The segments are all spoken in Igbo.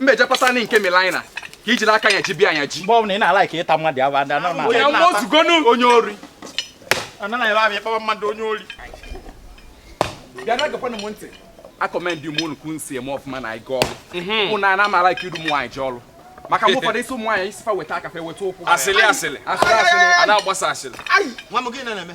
mmejapụta nị nke milaina ka iji n'aka ya ji bịa anya ji mgbe ọbụla ị na-ala ka ịta mmadụ aba ndị anọ na onye nwa ozugonu onye ori anaghị ebe abịa ịkpaba mmadụ onye ori bịa na geekwanụ m ntị akọmendị m unu ka unu si eme ọfụma na ịga ọrụ ụnụ mhm. ana amala ka iru ụmụ nwaanyị ji ọrụ maka mgbe ụfọdụ ị sị ụmụ nwaanyị ị sị fa weta aka fa eweta ụkwụ asịlị asịlị asịlị asịlị a na-agbasa asịlị nwa m gị na-eme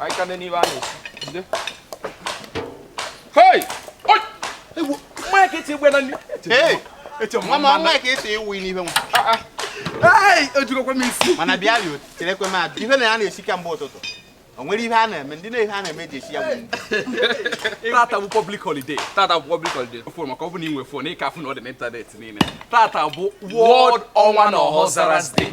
Aikande n'ibe a na-esi. Jide. Hey! Oi! Ewu, mmanya ka eti egbe na nri. Hey! Eche m mama nwa ka esi ewu n'ibe nwa. Ah ah. Hey! Ejirọkwa m isi. Mana bịa rịo, cherekwa m adị. Ife na ya na-esi kamgbe ụtụtụ. O nwere ihe a na-eme, ndị na-ihe a na-eme ji esi ya bụ nri. Tata bụ public holiday. Tata bụ public holiday. Fon maka ọ bụ na ị nwe fon, ị ka-afụ na ọ dị n'ịntanetị niile. Tata bụ World Ọnwa na Ọhaọzara's Day.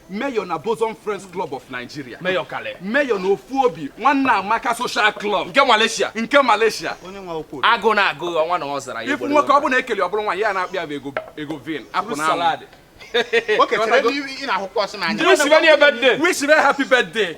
Mayor na Bosom Friends Club of Nigeria. Mayor Kale. Mayor na Ofu Obi Nwanne Amaka Social Club. Nke Malaysia. Nke Malaysia. Onye nwa okwu. Agụ na agụ Ọnwa na Ọzara. Ị fụ nwoke ọ bụla ekele ọ bụrụ nwaanyị a na-akpọ ya bụ ego Egovin. Apụ na salad. Okay, tere ị na-ahụkwa ọsị n'anya. Wish very happy birthday. Wish very happy birthday.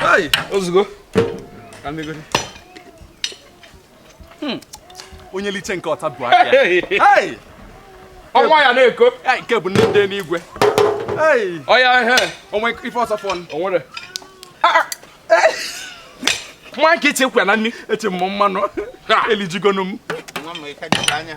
Hey, ozugbo. Ka m megodi. Hmm. Onye liche nke ọta bụ aka. Hey! Ọnwa ya na-eko. Nke bụ nne ndị n'igwe. Hey! Ọya oh, ihe. O nwe ife ọzọ fọ. O nwere. Ah, ah. Nwa nke eche kwya na nri eche m mmanụ. Elijugonu m. Nwa m ike dị anya.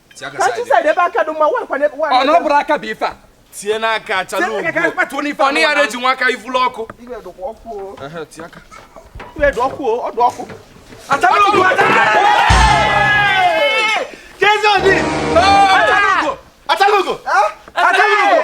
ọnụ bụrụ aka bụ ife a tie n'aka achalugo ọnụ ya na-eji nwa aka ivulu ọkụ achalugo achalugo achalugo